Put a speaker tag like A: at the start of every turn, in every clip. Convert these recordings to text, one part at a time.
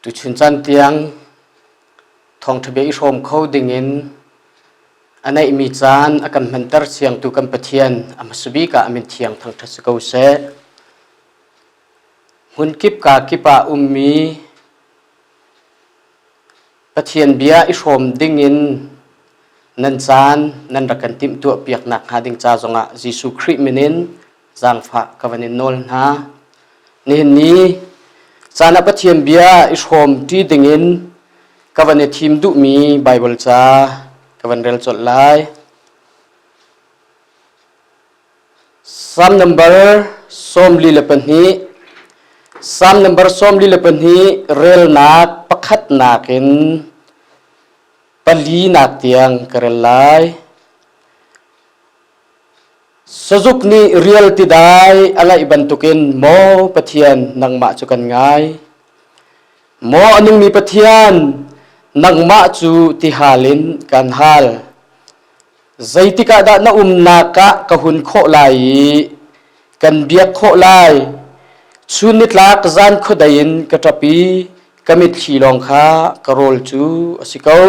A: Tuchun caan tiang thawngṭhabia i hrawm kho dingin a neihmi caan a kan hmanter siangtu kan Pathian a hmasa bik ah a min thiang thangṭhat si ko seh. Hmun kip kaa kip ah ummi Pathian bia i hrawm ding in nan caan nan rak kan timhtuah piak nak hnga ding ca zongah Jesuh Khrih min in zaangfah ka van in nawl hna. Nihin ni caan ah Pathian bia i hrawm ṭi ding in ka van i thim duhmi Baibal ca ka van rel colh lai. Psalm number sawmli le pahnih Psalm number sawmli le pahnih relnak pakhatnak in palinak tiang ka rel lai. Sazuk nih rial ti dai a laih bantukin maw Pathian nangmah cu kan ngai. Maw a nungmi Pathian nangmah cu ti halin kan hal. Zeitik ah dah na umnak ah ka hun khawh lai i kan biak khawh lai? Chun nitlak zan khuadei in ka ṭap i ka mitthli lawng kha ka rawl cu a si ko.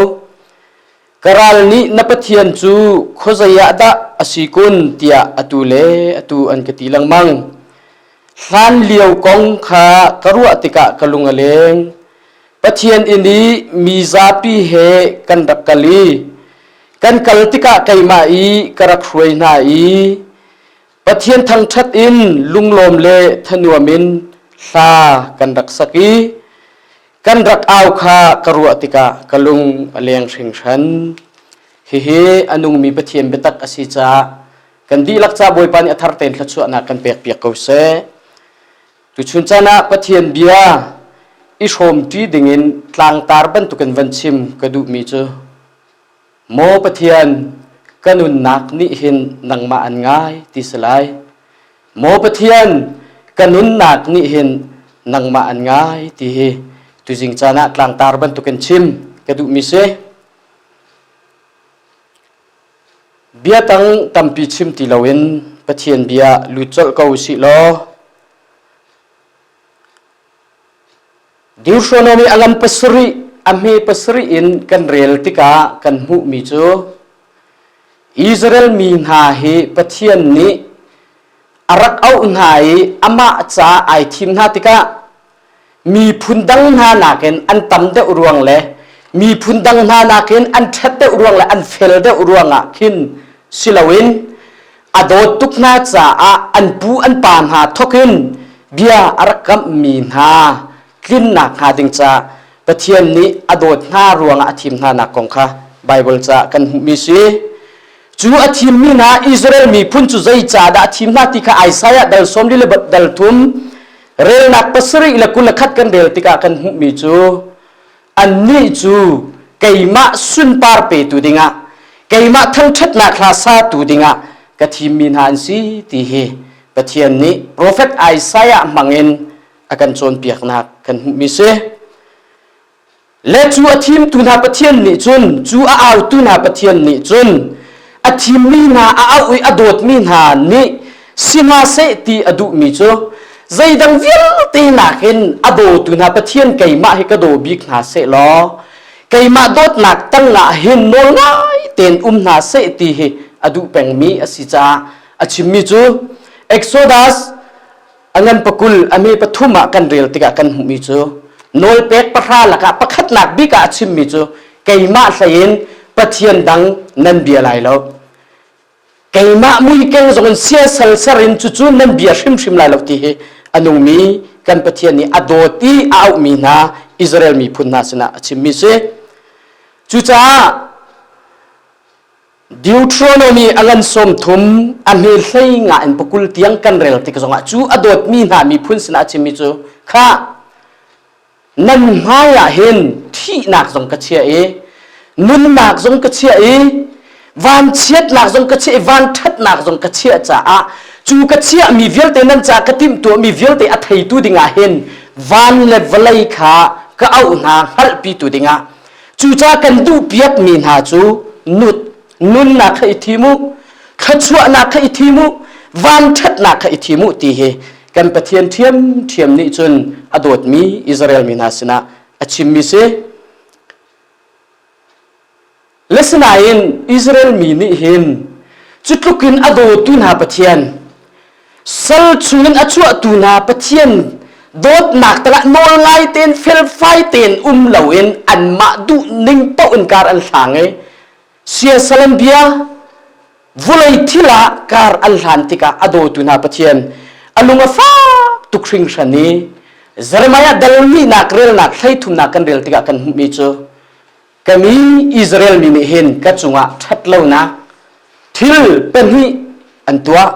A: Ka ral nih na Pathian cu khuazei ah dah a si kun tiah atu le atu an ka ti lengmang. Hlan lio kong kha ka ruah tikah ka lung a leng. Pathian inn i mi zapi he kan rak kal i kan kal tikah keimah i ka rak hruai hna i Pathian thangṭhat in lunglawm le thanuam in hla kan rak sak i kan rak au kha ka ruah tikah ka lung a leng hringhran. Hihi a nungmi Pathian biatak a si caah kan dihlak ca Bawipa nih a thar tein thluachuahnak kan pekpiak ko seh. Tuchun caan ah Pathian bia i hrawmṭi dingin tlangtar bantukin van chim ka duhmi cu, Maw Pathian, ka nunnak nih hin nangmah an ngai ti si lai. Maw Pathian, ka nunnak nih hin nangmah an ngai ti hi tuzing caan ah tlangtar bantukin chim ka duhmi si. Bia tang tampi chim ti loin Pathian bia lut colh ko sih law Deuteronomy a lam pasarih a hme pasarih in kan rel tikah kan hmuhmi cu Israel mi hna hi Pathian nih a rak auh hna i amah ca ai thim hna tikah miphun dang hna nakin an tam deuh ruang le miphun dang hna nakin an ṭhat deuh ruang le an fel deuh ruangah khin si loin a dawt tuk hna caah an pu an pa hna thokin bia a rak kamhmi hna tlinnak hnga ding ca Pathian nih a dawt hna ruangah a thim hnanak kong kha Baibal ca kan hmuhmi si cu a thimmi hna Israel miphun cu zei ca dah a thim hna ti kha Isaiah dal sawm li le dal thum relnak pasarih le kul le khat kan rel tikah kan hmuhmi cu annih cu keimah sunpar petu dingah keimah thangṭhatnak hla satu dingah ka thimmi hna an si ti hi Pathian nih profet Isaiah hmangin a kan cawnpiaknak kan hmuhmi si. le cu a thimtu hna pathian nih cun cu a autu hna pathian nih cun a thimmi hna a auh i a dawtmi hna nih sihmahseh ti a duhmi cu zeidang vialte nakin a dawtu hna pathian keimah hi ka daw bik hna seh law keimah dawtnak tangah hin nawl ngai tein um hna seh ti hi a duh pengmi a si caah a chimmi cu Exodus a ngan pakul a me pathum ah kan rel tikah kan hmuhmi cu nawlpek pahra lakah pakhatnak bik ah a chimmi cu keimah hleiin pathian dang nan bia lai lo keimah muikeng zongin siasal serin cucu nan bia hrimhrim lai lo ti hi a nungmi kan pathian nih a dawt i a auhmi hna Israel miphun hna sinah a chimmi si cucaah Deuteronomy a lan som thum a hme hlei nga in pakul tiang kan rel tik zongah cu a dawtmi hna miphun sinah chimmi cu kha nan hmaiah hin thihnak zong ka chia i nunnak zong ka chia i vanchiatnak zong ka chia i vanthatnak zong ka chia caah cu ka chiah mi vialte nan ca ka timh tuah mi vialte a theitu dingah hin van le vawlei kha ka auh hna hngalhpi tu dingah Cuca kan duhpiakmi hna cu nut nunnak kha i thim u thluachuahnak kha i thim u vanṭhatnak kha i thim u ti hi kan Pathian ṭhiamṭhiam nih cun a dawtmi Israel mi hna sinah a chimmi si. Lesinain Israel mi nih hin cutluk in a dawtu hna Pathian sal chungin a chuahtu hna Pathian dawtnak talah nawl ngai tein felfai tein um loin anmah duh ning paoh in kar an hlang i siasalan bia vulei thil ah kar an hlan tikah a dawtu hna Pathian a lung a fak tuk hringhran i Jeremiah dalmi nak relnak hlei thumnak kan rel tikah kan hmuhmi cu ka mi Israel mi nih hin ka cungah ṭhat lonak thil pahnih an tuah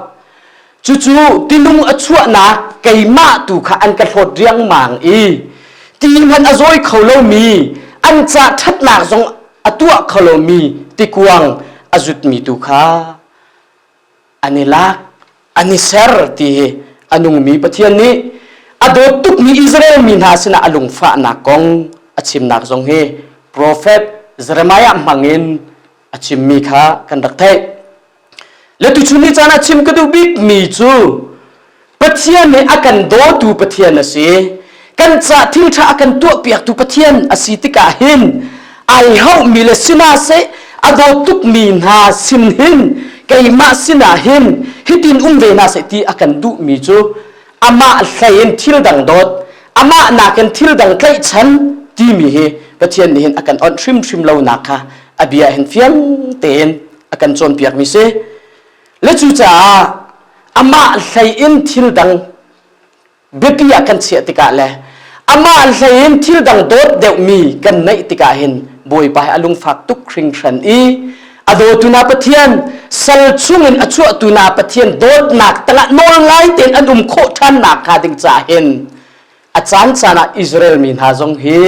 A: cucu tilung a chuahnak keimah tu kha an ka hlawt riangmang i ti hmanh a zawi kho lomi an ca ṭhatnak zong a tuah kho lomi tikuang a zutmi tu kha an i lak an i ser ti hi a nungmi Pathian nih a dawt tukmi Israel mi hna sinah a lungfahnak kong a chimnak zong hi profet Jeremiah hmangin a chimmi kha kan rak theih. Le tuchun ni caan ah chim ka duh bikmi cu Pathian nih a kan dawtu Pathian a si. Kan cah thilṭha a kan tuahpiaktu Pathian a si tikah hin ai hauhmi le sina seh a daw tukmi hna sin hin keimah sinah hin hitin um ve hna seh ti a kan duhmi cu amah hlei in thil dang dawt amah nakin thil dang tlaihchan timi hi Pathian nih hin a kan awnh hrimhrim lonak kha a bia hin fiang tein a kan cawnpiakmi si. le cucaah amah hlei in thil dang biapi ah kan chiah tikah le amah hlei in thil dang dawt deuhmi kan neih tikah hin bawipa a lungfak tuk hringhran i a dawtu na pathian sal chungin a chuahtu na pathian dawtnak tangah nawl ngai tein an um khawh ṭhan nak hnga ding ca hin a caan caan ah Israel mi hna zong hi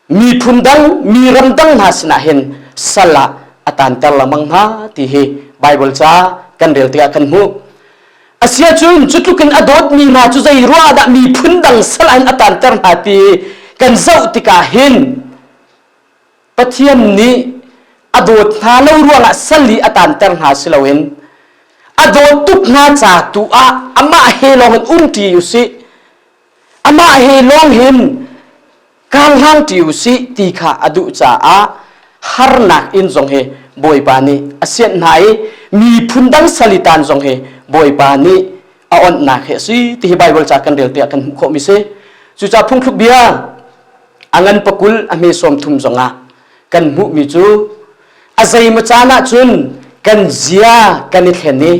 A: miphun dang mi ram dang hna sinah hin sal ah a tanter lamang hna ti hi Bible ca kan rel tikah kan hmuh asia cun cu tlukin a dawtmi hna cu zei ruah dah miphun dang sal ah hin a tanter hna ti kan zoh tikah hin Pathian nih a dawt hna lo ruangah sal i a tanter hna si loin a dawt tuk hna ca tu ah amah he lawng in um ṭi u sih amah he lawng hin karhlan ṭi u sih ti kha a duh caah harnak inn zong hi Bawipa nih a sianh hna i miphun dang salitan zong hi Bawipa nih a onhnak hi a si ti hi Baibal ca kan relte ah kan hmuh khawhmi si cucaah phungthluk bia a ngan pakul a hme sawm thum zong ah kan hmuhmi cu a zeimaw caan ah cun kan zia kan i thlen i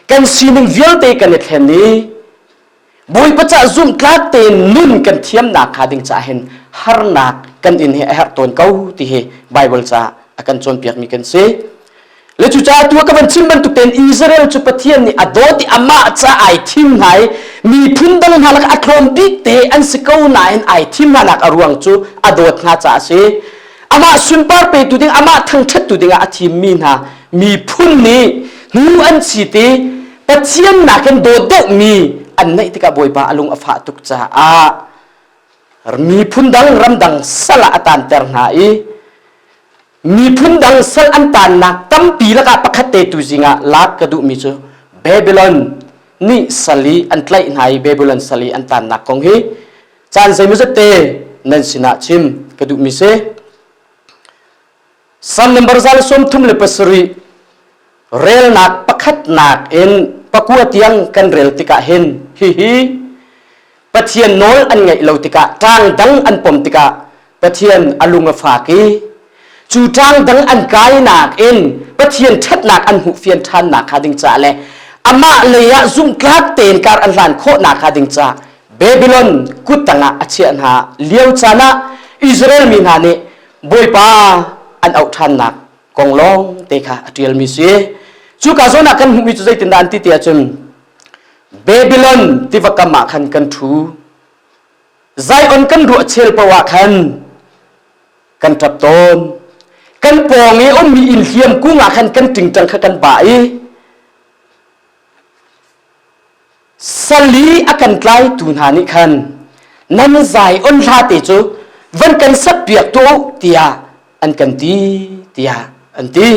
A: kan sining vialte kan i thlen i Bawipa cah zumhtlak tein nun kan thiamnak kha ding cah hin harnak kan in hi a herh tawn ko ti hi Bible ca a kan cawnpiak mi kan si. Le cu caah tu ka van chim bantuk tein Israel cu Pathian nih a dawt i amah ca ai thim hna i miphun dang hna lak a tlawm bik te an si ko nain ai thim hna nak a ruang cu a dawt hna ca a si. Amah sunpar petu ding amah thangthattu dingah a thim mi hna miphun nih hnu an si ti Pathian nakin dawt deuhmi an neih tikah Bawipa a lung a fah tuk caah miphun dang ramdang sal ah a tanter hna i miphun dang sal an tannak tampi lakah pakhat te tu zingah lak ka duhmi cu Babylon nih sal i an tlaih hna i Babylon sal i an tannak kong hi caan zeimaw zette nan sinah chim ka duhmi si San number zal sawmthum le pasarih relnak pakhatnak in pakua tiang kan rel tikah hin hihi Pathian nawl an ngaih lo tikah ṭang dang an pom tikah Pathian a lung a fak i cu ṭang dang an kainak in Pathian ṭhatnak an hmuh fian ṭhannak kha ding ca le amah lei ah zumhtlak tein kar an hlan khawhnak hnga ding ca Babylon kut tangah a chiah hna lio caan ah Israel mi hna nih Bawipa an auh ṭhannak kong lawng te kha a ṭialmi si. Cu ka zawnah kan hmuhmi cu zeitindah an ti ti ahcun Babylon tiva kam ah khan kan ṭhu. Zion kan ruah chel poah ah khan kan ṭap tawn. Kan pawng i ummi inn hliam kung ah khan kan ṭingṭang kha kan bah i sali a kan tlaitu hna nih khan nan zai on hlate cu van kan sakpiak tuah u tiah an kan ti tiah an ti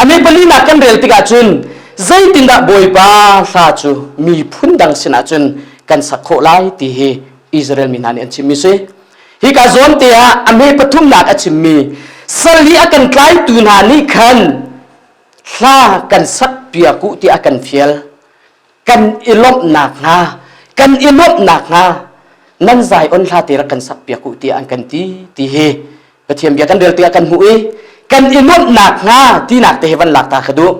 A: amebalinak kan rel tikah cun zeitindah bawipa hla cu miphun dang sinah cun kan sak khawh lai ti hi Israel mi hna nih an chimmi si hika zawn te ah ame pathumnak a chimmi sali a kan tlaitu hna nih khan hla kan sakpiak u ti a kan fial kan i lawmh nakhnga kan i lawmh nakhnga nan zai on hla te rak kan sak piak u tiah an kan ti ti hi Pathian bia kan rel tikah kan hmuh i kan i lawmh nakhnga tinak te he van lak ta ka duh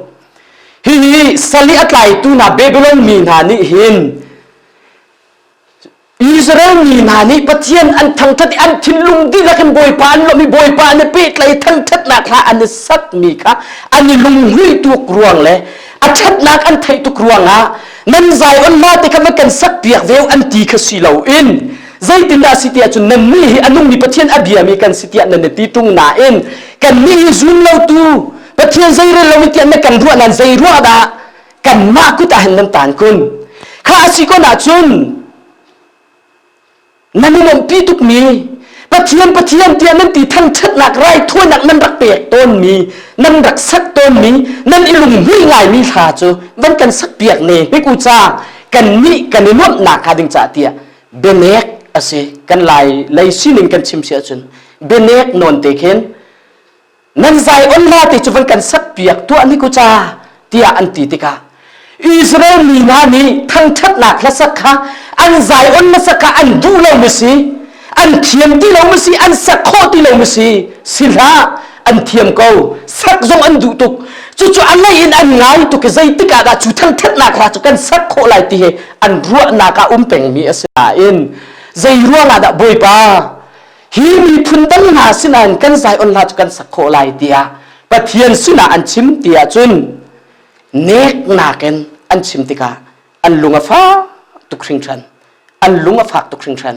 A: hihi sali a tlaitu hna Babylon mi hna nih hin Israel mi hna nih Pathian an thangthat i an thinlung dihlak in Bawipa an lawmh i Bawipa nih pehtlaih thangthatnak hla an i satmi kha an i lunghmuih tuk ruang le a thatnak an theih tuk ruangah nan Zion hla te kha va kan sakpiak ve an ti kha si loin zeitindah si tiah cun nannih hi a nungmi Pathian a biami kan si tiah nan i ti tung nain kannih hi zun lotu Pathian zeirel lo in tiah na kan ruah nan zei ruah dah kanmah kut ah hin nan tan kun kha a si kun ahcun nan i lawmhpi tukmi pathian pathian tiah nan ti thangṭhatnak raithawinak nan rak pek tawnmi nan rak sak tawnmi nan i lunghmui ngaimi hla cu van kan sakpiak ne hnik u ca kannih kan i nuamhnak hnga ding cah tiah benek a si kan lai lei sining kan chim si ahcun benek nawn te khin nan Zion hla ti cu van kan sakpiak tuah ni ku ca tiah an ti tikah Israel mi hna nih thangṭhatnak hlasak kha an Zion hlasak kha an duh lo mi si an thiam ti lo mi si an sak khawh ti lo mi si si hlah an thiam ko sak zong an duh tuk cucu a lei in an ngai tuk i zeitik ah dah cu thangṭhatnak hla cu kan sak khawh lai ti he an ruahnak ah um pengmi a si nain zei ruang ah dah Bawipa hi miphun dang hna sinain kan Zion hla cu kan sak khawh lai tiah Pathian sinah an chim ti ahcun neknak in an chim tikah an lung a fak tuk hringhran an lung a fak tuk hringhran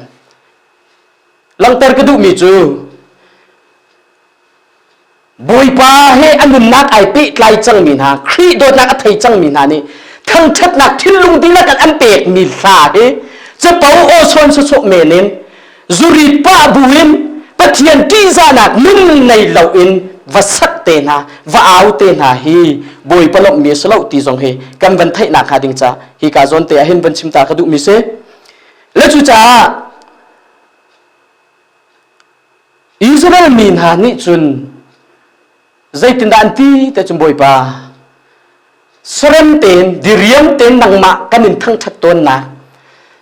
A: langhter ka duhmi cu Bawipa he a nunnak ai pehtlai cangmi hna Khrih dawtnak a thei cangmi hna nih thangṭhatnak thinlung dihlak an pekmi hla hi capo awsuan sawsawh men in zurit pa bu in Pathian ṭihzahnak nun nei loin va sak te hna va au te hna hi Bawipa lawmhmi a si lo ti zong hi kan van theihnak hnga ding ca hi ka zawn te ahhin van chimta ka duhmi si le cucaah Israel mi hna nih cun zeitindah an ti te cun Bawipa sarem tein diriam tein nangmah kan in thangṭhat tawnnak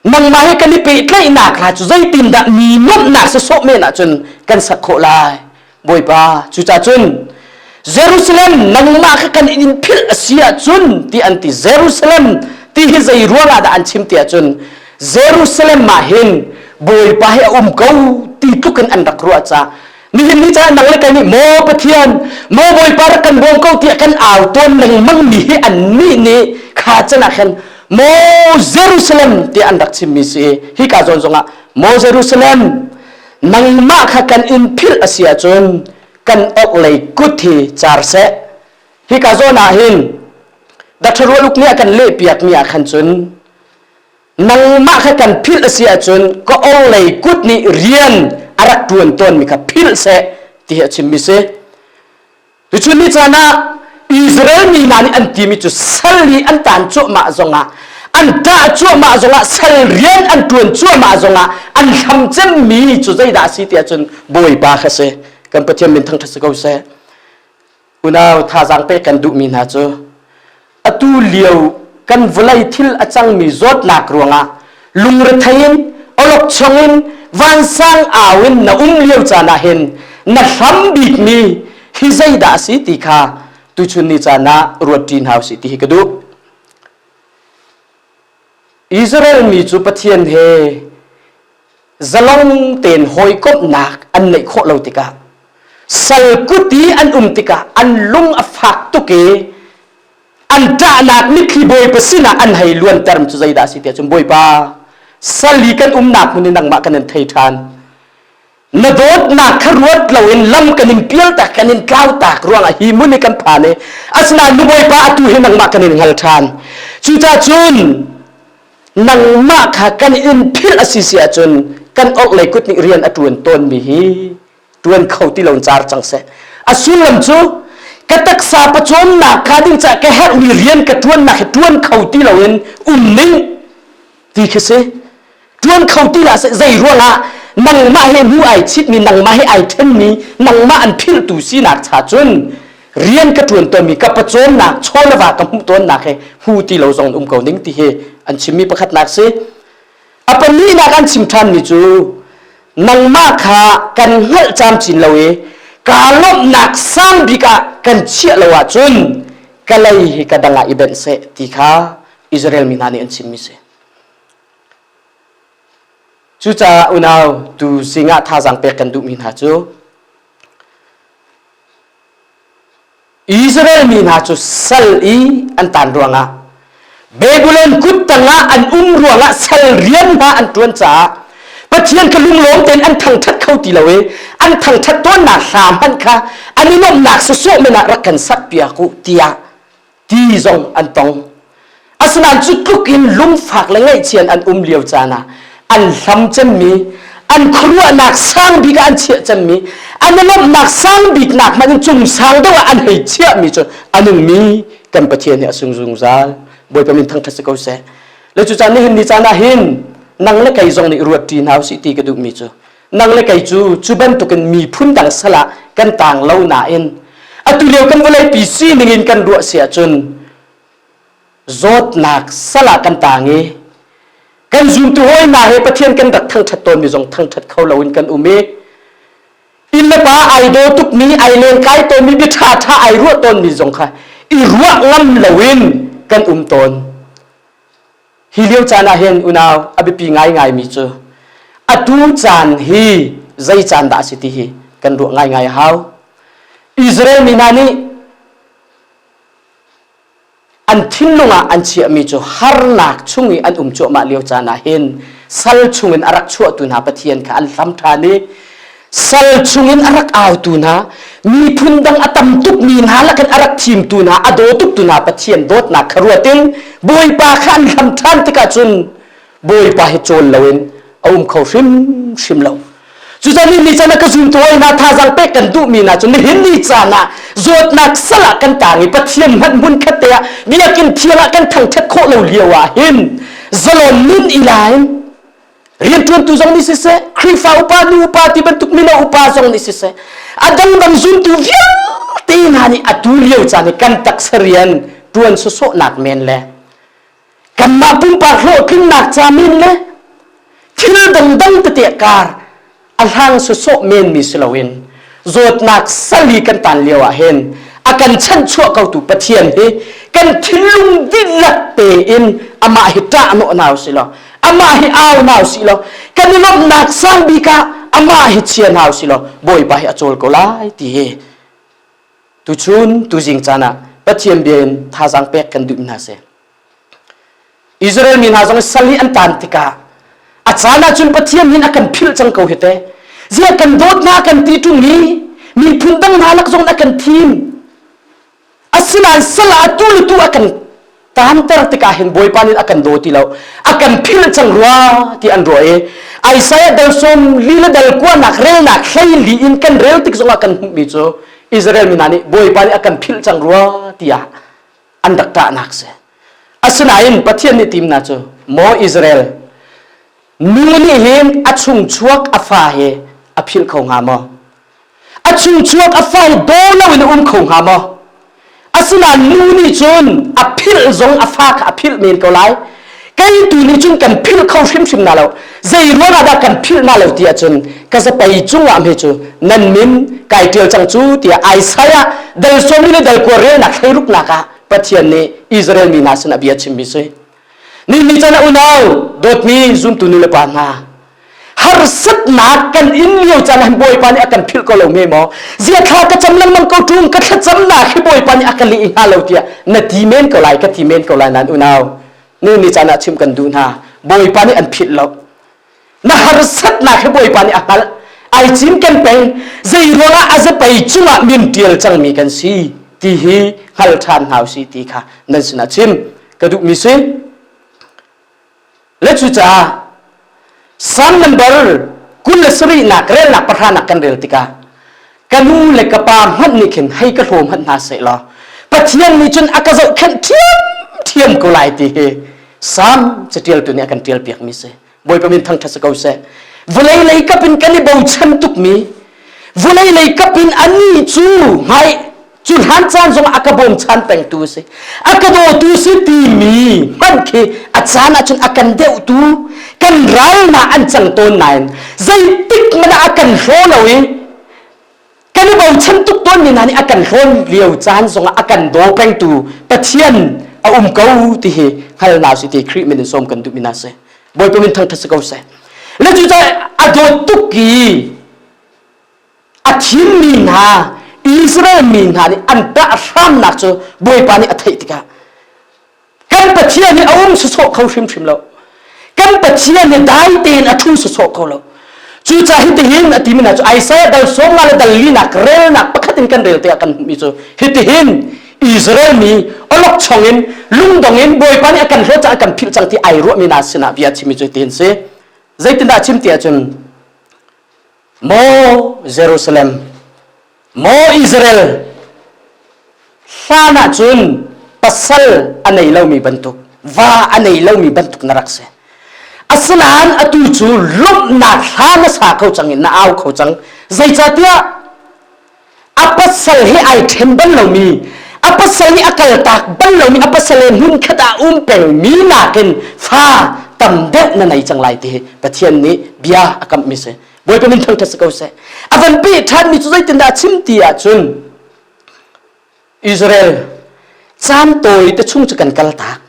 A: nangmah he kan i pehtlaihnak kha cu zeitindah mi nuamhnak sasawh men ahcun kan sak khawh lai Bawipa cucahcun Jerusalem nangmah kha kan in philh a si ahcun ti an ti Jerusalem ti hi zei ruang ah dah an chim ti ahcun Jerusalem mah hin Bawipa he a um ko ti tluk in an rak ruah ca nihin ni caan nang le kai nih maw Pathian maw Bawipa rak kan bawm ko tiah kan au tawn lengmang mi hi an nih nih kha can ah khan maw Jerusalem ti an rak chim mi si hi ka zawn zong ah maw Jerusalem nangmah kha kan in philh a si ahcun kan ok lei kut hi car seh hi ka zawn ah hin datharual uk ni a kan leh piak mi ah khan cun nangmah kha kan philh a si ahcun ka ong lei kut nih rian a rak tuan tawn mi kha philh seh ti hi a chim mi si tuchun ni caan ah Israel mi hna nih an timi cu sal i an tan cuahmah zongah an ṭah cuahmah zongah sal rian an ṭuan cuahmah zongah an hlam cemmi cu zeidah a si tiah cun Bawipa kha si kan Pathian min thangṭhat si ko seh unau thazaang pek kan duhmi hna cu atu lio kan vawlei thil a cangmi zawtnak ruangah lungrethei in olokchong in vansang au in na um lio caan ah hin na hram bikmi hi zeidah a si ti kha tuchun ni caan ah ruat ṭin hau si ti hi ka duh Israel mi cu Pathian he zalong tein hawikomhnak an neih khawh lo tikah sal kuti an um tikah an lung a fak tuk i an ṭahnak mitthli bawipa sinah an hei luanter cu zeidah a si tiah cun bawipa sali kan umnak hmun i nangmah kan in thei ṭhan na dawtnak kha ruat loin lam kan in pialtak kan in tlautak ruangah hi mun i kan phan i asinain nu bawipa atu hi nangmah kan in hngal ṭhan cucacun nangmah kha kan in philh a si si ahcun kan orhlei kut nih rian a ṭuan tawnmi hi tuan kho ti lo car cang seh a sullam cu ka taksa pacuannak ka ding cah ka herhmi rian ka tuannak hi tuan kho ti lo in um ning ti khi si tuan kho ti la se zei ruangah nangmah he nu ai chitmi nangmah he ai thenmi nangmah an philtu sinak cha cun rian ka tuan tawnmi ka pacuannak chawlava ka hmuh tawnnak he hmu ti lo zong um ko ning ti hi an chimmi pakhatnak si a pahnihnak an chim ṭhanmi cu nangmah kha kan hngalh camcin lo i kaa lawmhnak sang bik ah kan chiah lo ahcun ka lei hi ka dang ah i benh seh ti kha Israel mi hna nih an chimmi si. Cucaah unau tu singah thazaang pek kan duhmi hna cu Israel mi hna cu sal i an tan ruangah Babylon kut tangah an um ruangah sal rian hna an ṭuan caah Pathian kha lunglawm tein an thangṭhat kho ti lo i an thangṭhat tawnnak hram hmanh kha an i lawmhnak sawsawh men ah rak kan sakpiak u tiah ti zong an tong. Asinain cu tluk in lungfak le ngaihchian an um lio caan ah an hlam cemmi, an khuaruahnak sang bik ah an chiah cemmi, an i lawmhnak sang biknak hmanh in cung sang deuh ah an hei chiahmi cu a nungmi kan Pathian nih a sung zungzal. Bawipa min thangṭhat si ko seh. Le cucan nihin ni caan ah hin nang le kei zong nih ruatṭi hna usih ti ka duhmi cu nang le kei cu cu bantukin miphun dang sal ah kan tang lo nain atu lio kan vawleipi sining in kan ruah si ahcun zawtnak sal ah kan tang i kan zumtu hawinak he Pathian kan rat thangṭhat tawnmi zong thangṭhat kho loin kan um i inn le pa ai daw tukmi ai len kai tawnmi bia ṭha ṭha ai ruah tawnmi zong kha i ruah ngam loin kan um tawn hi lio caan ah hin unau a biapi ngaingaimi cu atu caan hi zei caan dah a si ti hi kan ruah ngaingai a hau Israel mi hna nih an thinlung ah an chiahmi cu harnak chung i an um cuahmah lio caan ah hin sal chungin a rak chuahtu hna pathian kha an hlam ṭhan i sal chungin a rak autu hna miphun dang a tam tukmi hna lakin a rak thimtu hna a daw tuktu hna pathian dawtnak kha ruatin bawipa kha an hlam ṭhan tikah cun bawipa hi cawl lo in a um kho hrimhrim lo cucun ni chan ah ka zun tuai na thazang pek kan duh mi na cun nihin ni caan ah zawtnak sal ah kan tang i pathian hmanh hmun khat te ah biakin thial ah kan thangthat khawh lo lio ah hin zalon nun ilain riantuantu zong nih siseh khrifa upa nu upa ti bantuk mino upa zong nih siseh adang ram zuntu vialte hna nih atu lio caan i kan taksa rian tuan sosawh nak men le kanmah pumpak hlawhtlinnak ca men le thil dangdang tete kar a hlang sawsawh menmi si loin zawtnak sali kan tan lio ah hin a kan chanhchuah kotu pathian hi kan thinlung dihlak tein amah hi ṭah nawh nau si lo amah hi au nau si lo kan i lawmhnak sang bik ah amah hi chia nau si lo bawipa hi a cawl ko lai ti hi Tuchun tuzing caan ah Pathian bia in thazaang pek kan duh hna seh. Israel mi hna zong sal hi an tan tikah a caan ahcun Pathian hin a kan philh cang ko hi te. Zia kan dawt hna kan ti ṭung i miphun dang hna lak zong a kan thim. Asinain sal ah tu le tu a kan Taamter tikah hin Bawipa nih a kan daw ti lo. A kan philh cang rua ti an ruah i Isaiah dal sawm li le dal kuanak relnak hleili in kan rel tik zongah kan hmuhmi cu Israel mi hna nih Bawipa nih a kan philh cang rua tiah an rak ṭahnak si. Asinain Pathian nih tim hna cu, Maw Israel, nu nih hin a chung chuak a fa hi a philh kho hnga maw? a chuchuak a fong daw loin a um kho hnga maw asinain nu nih cun a philh zong a fa kha a philh men ko lai kei tu nih cun kan philh kho hrimhrim na lo zei ruang ah dah kan philh na lo ti ahcun ka zapei cungah me cu nan min kai ṭial cang cu tiah Isaiah dal sawmi le dal kuarelnak hlei ruknak ah Pathian nih Israel mi hna sinah bia chimmi si Ningning chan a unau dawtmi zumtu nu le pa hna harsatnak kan in lio caan ah bawipa nih a kan philh ko lo me maw zia thla ka cam lengmang ko ṭung ka thlacamnak hi bawipa nih a ka leh hnga lo tiah na ti men ko lai ka ti men ko lai nan unau nu nih caan ah chim kan duh hna bawipa nih an philh lo na harsatnak hi bawipa nih a hngalh ai cinken peng zei ruangah a zapei cungah min ṭial cangmi kan si ti hi hngal ṭhan hna si ti kha nan sinah chim ka duhmi si le cucaah sang nambar kul le sarihnak relnak pahra nak kan rel tikah ka nu le ka pa hmanh nih khin hei ka hlawm hmanh hna seh law pathian nih cun a ka zohkhenh ṭhiamṭhiam ko lai ti hi sam catialtu nih a kan ṭial piakmi si bawipa min thangṭhat si ko seh vawlei lei kapin kan i bochan tukmi vawlei lei kapin ani cu hmai cu hlan caan zong a ka bawmchan pengtu a si a ka dawtu si timi hmanh khi a caan ahcun a kan deuhtu kan ralna an cang tawn nain zeitik man a kan hraw lo i kan i bochan tuk tawn mi hna nih a kan hrawn lio caan zong ah a kan daw pengtu pathian a um ko ti hi hngal na si ti Khrih min in som kan duh mi na si bawipa min thangthat si ko seh le cu a dawt tuk i a thimmi hna Israel mi hna nih an ṭah hramnak cu Bawipa nih a theih tikah kan Pathian hi a um sawsawh kho hrimhrim lo kan Pathian hi dai tein a ṭhu sawsawh kho lo cucah hitihin a timi hna cu Isaiah dal sawmnga le dal linak relnak pakhat in kan rel tiah kan hmuhmi cu hitihin Israel mi olokchong in lungdong in Bawipa nih a kan hlawt caah kan philh cang ti ai ruahmi hna sinah bia chimi cu tihin si zeitindah chim ti ahcun Maw Jerusalem, maw Israel, hlan ah cun pasal a nei lomi bantuk, va a nei lomi bantuk na rak si. Asinain atu cu lawmhnak hla na sa kho cang i na au kho cang. Zeicahtiah a pasal he ai ṭhen bal lomi a pasal nih a kaltak bal lomi a pasal he nun khat ah um pengmi nakin fa tam deuh na nei cang lai ti hi Pathian nih bia a kamhmi si bawipa min thangṭhat si ko seh a van peh ṭhanmi cu zeitindah a chim ti ahcun Israel caan tawi te chung cu kan kaltak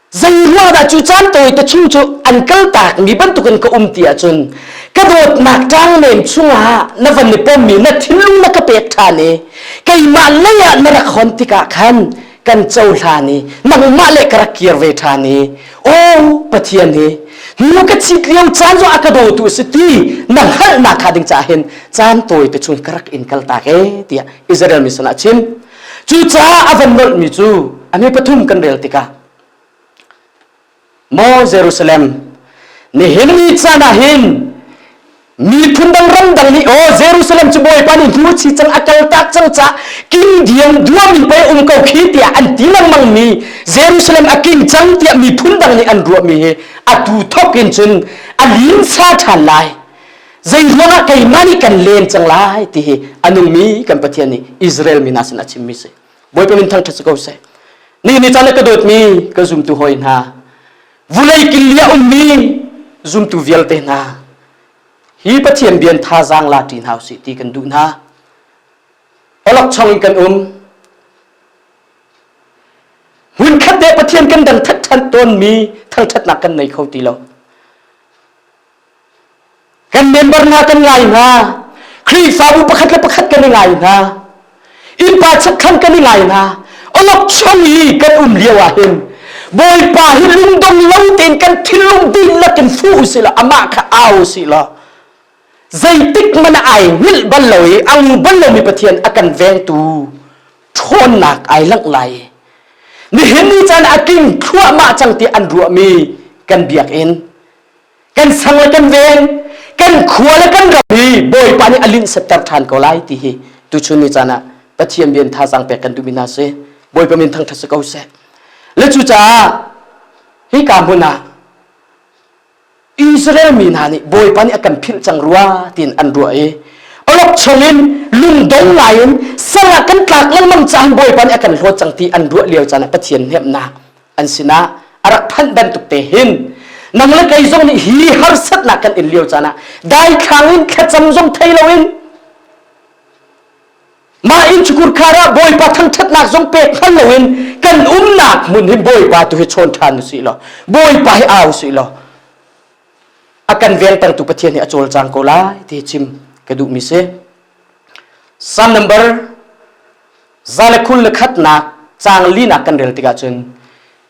A: Zanghuah dah cu caan tawite chung cu an kaltak mi bantukin ka um ti ahcun ka dawtnak ṭangnem chungah na van i pommi na thinlung na ka pek ṭhan i keimah lei ah na rak hon tikah khan kan cohlan i nangmah le ka rak kir ve ṭhan i o Pathian hi nu ka chit lio caan zong a ka dotu a si ti na hngalhnak hnga ding caah hin caan tawite chung ka rak in kaltak e tiah Israel mi sinah a chim Cucaah a van nolhmi cu a mi pathum kan rel tikah Maw Jerusalem nihin ni caan ah hin miphun dang ramdang nih o Jerusalem cu Bawipa nih hnu chi cang a kal tak cang ca kindiam duami pei um ko khi tiah an ti lengmang mi Jerusalem a king cang tiah miphun dang nih an ruahmi hi a tu thok in cun a linsa ṭhan lai zeihmanh ah keimah nih kan len cang lai ti hi a nungmi kan Pathian nih Israel mi hna sin a chimmi si Bawipa min thangṭhat si ko seh nihin ni caan ah ka dawtmi ka zumtu hawi hna vulei kil i a ummi zumtu vialte hna hi Pathian bian thazaang la ṭi hna usih ti kan duh hna olokchong in kan um hmunkhat te Pathian kan dang that ṭhan tawnmi thangṭhatnak kan nei kho ti lo Kan member hna kan ngai hna. Khrihfabu pakhat le pakhat kan i ngai hna. Innpa chekkhan kan i ngai hna. Olokchong i kan um lio ah hin Bawipa hi lungdong lo tein kan thinlung dihlak in fu usih law amah kha au usih law zeitik man ai hngilh bal lo i ang bal lomi Pathian a kan vengtu ṭhawnnak ai langh lai. Nihin ni caan a king thluahmah cang ti an ruahmi kan biakinn kan sang le kan veng kan khua le kan ram hi bawipa nih a linh setter than ko lai ti hi tuchun ni caan ah pathian bian thazang pek kan duhmi hna si bawipa min thangthat si ko seh le cu caah hi ka hmun ah Israel mi hna nih bawipa nih a kan philh cang rua tiin an ruah i olok chung in lungdong ngai in sala kan tlak lengmang caan bawipa nih a kan hlawt cang ti an ruah lio caan ah pathian hnemnak an sinah a rak thanh bantuk te hin nang le kei zong nih hi harsatnak kan in lio caan ah daithlang in thlacam zong thei loin mah in chukur khar ah bawipa thangthatnak zong pek hman loin kan umnak hmun hi bawipa tu hi chawn ṭhan usih law bawipa hi au usih law a kan vengtertu pathian hi a cawlcang ko lai ti chim ka duhmi si Psalm number za le khul le khatnak cang linak kan rel tikah cun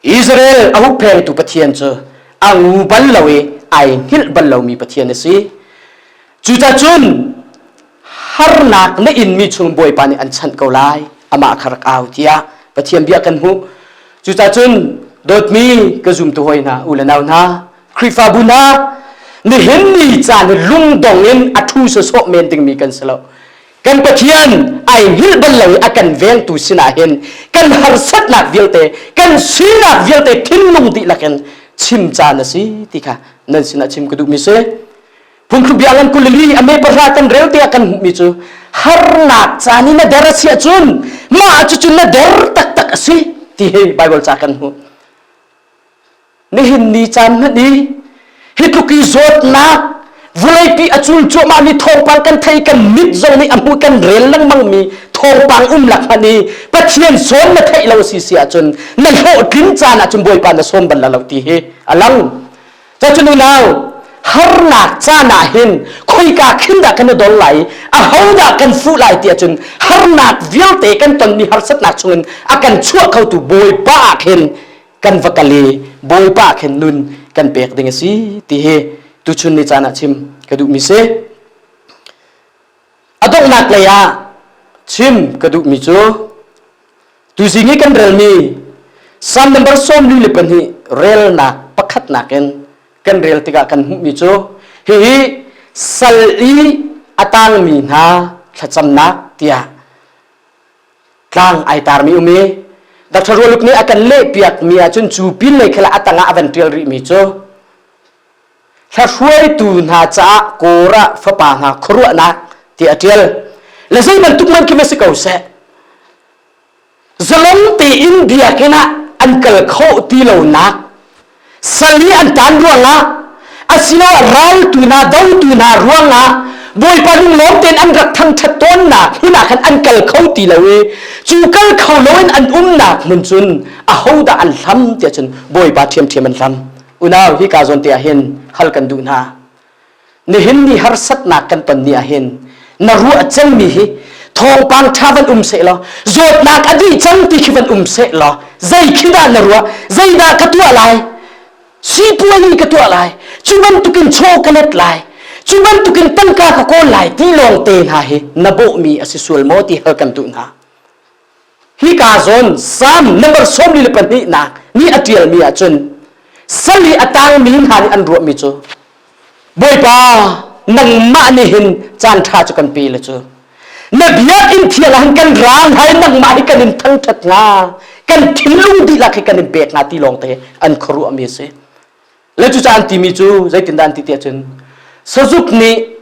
A: Israel a hupphengtu Pathian cu a ngu bal lo i ai hngilh bal lomi Pathian a si cucacun harnak na inmi chung bawipa nih an chanh ko lai amah kha rak au tiah Pathian bia kan hmuh cucacun dawtmi ka zumtu hoi hna u le nau hna Khrihfabu hna nihin ni caan hi lungdong in a thu se sawh men dingmi kan si lo kan Pathian ai hngilh bal lo i a kan vengtu sinah hin kan harsatnak vialte kan sinak vialte thinlung dihlak in chim caan a si ti kha nan sinah chim ka duhmi si phungthluk biang an kulili a me pahra kan rel te ah kan hmuhmi cu harnak caan i na der a si ahcun mah cucun na der taktak a si ti hi Bible ca kan hmuh nihin ni caan hmanh i hi tluk i zawtnak vuleipi a cul cuahmah mi thawngpang kan thei kan mit zong nih a hmuh kan rel lengmang mi thawngpang umlak hmanh i pathian sawn na theih lo si si ahcun na hlawhtlin caan ahcun bawipa na sawm bal lo ti hi a lang cacun unau harnak caan ah hin khoika khin dah kan i dol lai a ho dah kan fuh lai ti ahcun harnak vialte kan tonmi harsatnak chungin a kan chuah khotu bawipa ah khin kan va kal i bawipa khen nun kan pek ding a si ti hi tuchun ni caan ah chim ka duhmi si a donghnak lei ah chim ka duhmi cu tuzing i kan relmi psalm number sawmli le pahnih relnak pakhatnak in kan rel tikah kan hmuhmi cu hihi sal i a tangmi hna thlacamnak tiah tlang ai tarmi um i Dr. Rualuk nih a kan lehpiak mi ahcun cu pin lei khela a tangah a van ṭial rih mi cu hruaitu hna caah kawr ah fapa hna khuaruahnak ti a ṭial le zei bantuk man khi ma si ko seh zalong tein biakinn ah an kal khawh ti lonak sal hi an taan ruangah asiloah raltu hna dotu hna ruangah bawipa lunglawm tein an rak thangṭhat tawnnak hinak khan an kal kho ti lo i cu kal kho loin an umnak hmun cun ahodah an hlam tiah cun bawipa ṭhiamṭhiam an hlam unau hi ka zawn te ah hin hal kan duh hna Nihin ni harsatnak kan ton ni ahhin na ruah celmi hi thawngpang ṭha van um seh law zawtnak a dih cang ti khi van um seh law zei khi dah na ruah zeidah ka tuah lai sipuani ka tuah lai cu bantukin chaw ka let lai cu bantukin tangka ka kawl lai ti lawngte hna hi na bawhmi a si sual maw ti hal kan duh hna hi ka zawn Psalm number sawmli le pahnihnak ni a ṭialmi ah cun sal i a tangmi hna nih an ruahmi cu Bawipa nangmah nih hin caan ṭha cu kan pe le cu na biakinn thial ah hin kan ra hna i nangmah hi kan in thangṭhat hnga kan thinlung dihlak hi kan in pek hnga ti lawngte an khuaruahmi a si Le cu caan timi cu zeitindan ti tiah cun sazuk nih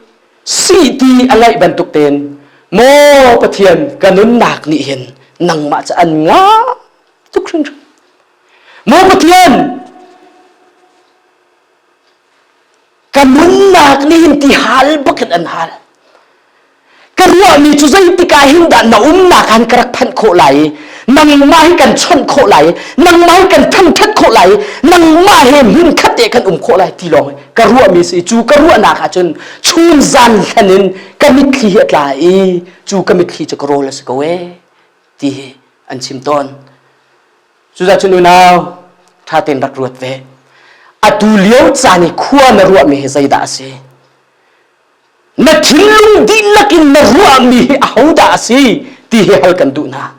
A: sih ti a ngeih bantuk tein maw Pathian ka nunnak nih hin nangmah cu an nga tuk hrinhrin maw Pathian ka nunnak nih hin ti hal bakin an hal Ka ruahmi cu zeitik ah hin dah na umnak han ka rak phanh khawh lai i nangmah hi kan chawnh khawh lai i nangmah hi kan thangṭhat khawh lai i nangmah he hmun khat te kan um khawh lai ti lawng ka ruahmi si cu ka ruahnak ah cun chun zan thlen in ka mitthli hi a tla i cu ka mitthli cu ka rawl a si ko ee ti hi an chim tawn cuzacun unau ṭha tein rak ruat ve atu lio caan i khua na ruahmi hi zeidah a si Na thinlung dihlak in na ruahmi hi ahodah a si ti hi hal kan duh hna.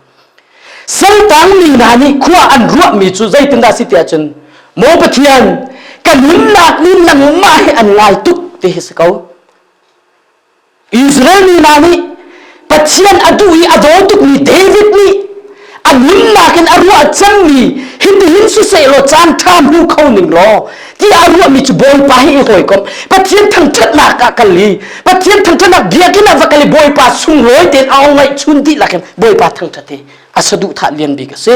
A: Santang mi hna nih khua an ruahmi cu zeitindah a si ti ahcun Maw Pathian kan nunnak ni nangmah he an ngai tuk ti hi si ko. Israel mi hna nih Pathian a duh i a daw tukmi David nih a nunnak in a ruah cangmi hitihin siseh law caan ṭha hmu kho ning law tiah a ruahmi cu Bawipa hi i hawikomh Pathian thangṭhatnak ah kal i Pathian thangṭhatnak biakinn ah va kal i Bawipa sunglawi tein a ong ngaihchun dihlak in Bawipa thangṭhat hi a saduhthah lian bik a si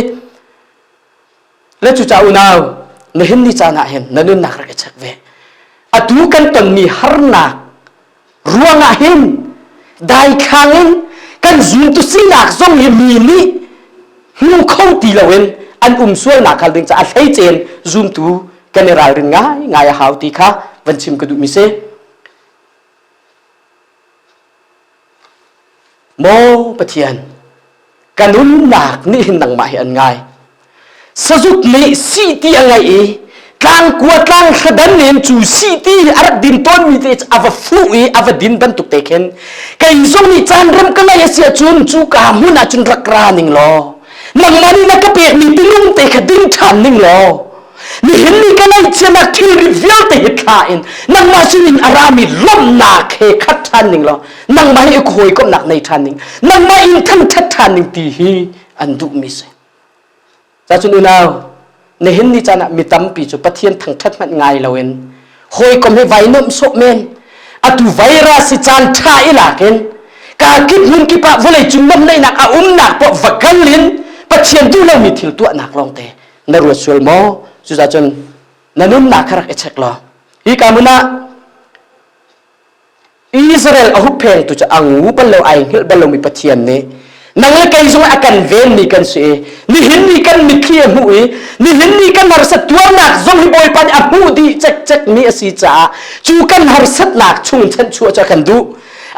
A: na cuca unau na hin ni caan ah hin na nunnak rak i check ve atu kan tonmi harnak ruangah hin daithlang in kan zuntu sinak zong hi mi nih hmu kho ti loin an um sualnak hal ding caah hleicein zumtu kan i ralrin ngai ngai a hau ti kha van chim ka duh mi si Maw Pathian, ka nunnak nih hin nangmah hi an ngai. Sazuk nih si ti a ngei i tlang kua tlang thladan in cu si ti a rak din tawnmi te a va fuh i a va din bantuk te khin kei zong nih caan rem ka lei a si ahcun cu ka hmun ahcun rak ra ning law nangmah nih na ka pekmi tinung te kha ding ṭhan ning law nihin ni ka ngaihchianak thilri vialte hi thla in nangmah sinin a rami lawmhnak he khat ṭhan ning law nangmah hi i hawikomhnak nei ṭhan ning nangmah in thangṭhat ṭhan ning ti hi an duhmi si cacun unau nihin ni caan ah mi tampi cu pathian thangṭhat hmanh ngai loin hawikom hi vai nuamh sawh men atu virus si caan ṭha i lakin ka kip hmun kip ah vawlei cung nawmhnaihnak a umnak pawh va kal in pathian duh lomi thil tuahnak lawngte na ruat sual maw cucaah cun na nunnak kha rak i check law hi ka mun ah Israel a hupheng tu cu a ngu bal lo ai hngilh bal lomi pathian nih nang le kei zong a kan venmi kan si i nihin ni kan mitthli a hmuh i nihin ni kan harsat tuarnak zong hi bawipa nih a hmuh dih cekcek mi a si caah cu kan harsatnak chung chanh chuah cu a kan duh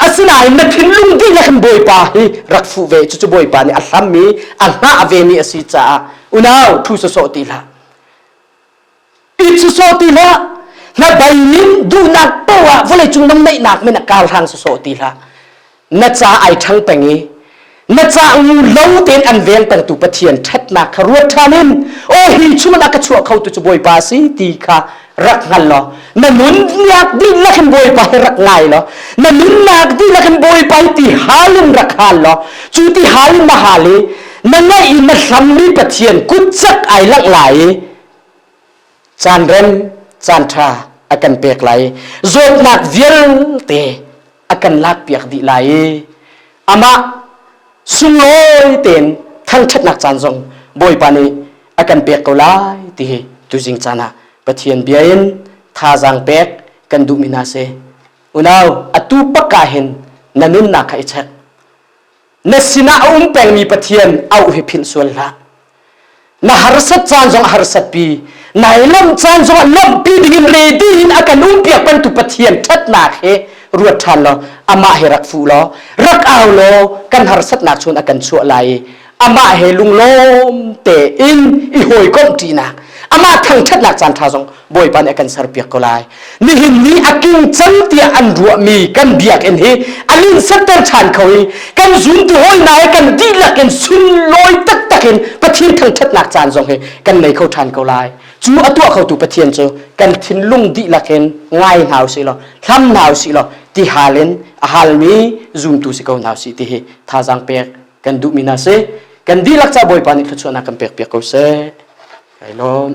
A: asinain na thinlung dihlak in bawipa hi rak fuh ve cucu bawipa nih a hlammi a hngah vemi a si caah unau thu sawsawh ti hlah i sawsawh ti hlah na bainin duhnak poah vawlei cung na neihnak min a kar hang sawsawh ti hlah na ca ai ṭhang peng i na ca ngu lo tein an veng pengtu pathian ṭhatnak kha ruat ṭhan in o hi chungin a ka chuah kho tu cu bawipa si ti kha rak hngal law na nunnak dih na kan bawipa hi rak ngai law na nunnak dih na kan bawipa hi ti hal in rak hal law cu ti hal in na hal i na ngaih i na hlammi pathian kutsak ai lak lai i caan rem caan ṭha a kan pek lai zawtnak vialte a kan lakpiak dih lai i amah sunglawi tein thangṭhatnak caan zong Bawipa nih a kan pek ko lai ti hi tuzing caan ah Pathian bia in thazaang pek kan duhmi hna si unau atu bak ah hin na nunnak kha i check na sinah a um pengmi pathian auh hi philh sual hlah na harsat caan zong a harsat pi nai lawmh caan zong a lawmhpi dingin ready in a kan umpiak bantu pathian ṭhatnak he ruat ṭhan law amah he rak fu law rak au law kan harsatnak chun a kan chuah lai i amah he lunglawm tein i hawikomh ṭinak amah thangṭhatnak caan ṭha zong Bawipa nih a kan serpiak ko lai nihin ni a king cang tiah an ruahmi kan biakinn hi an in setter ṭhan kho i kan zuntu hawina he kan dihlak in sunlawi taktak in Pathian thangṭhatnak caan zong hi kan nei kho ṭhan ko lai cu a tuah khotu Pathian cu kan thinlung dihlak in ngai hna usih law thlam hna usih law ti hal in a halmi zumtu si ko hna usih ti hi thazaang pek kan duhmi hna si kan dihlak ca Bawipa nih thluachuahnak kan pek piak ko seh kai lawm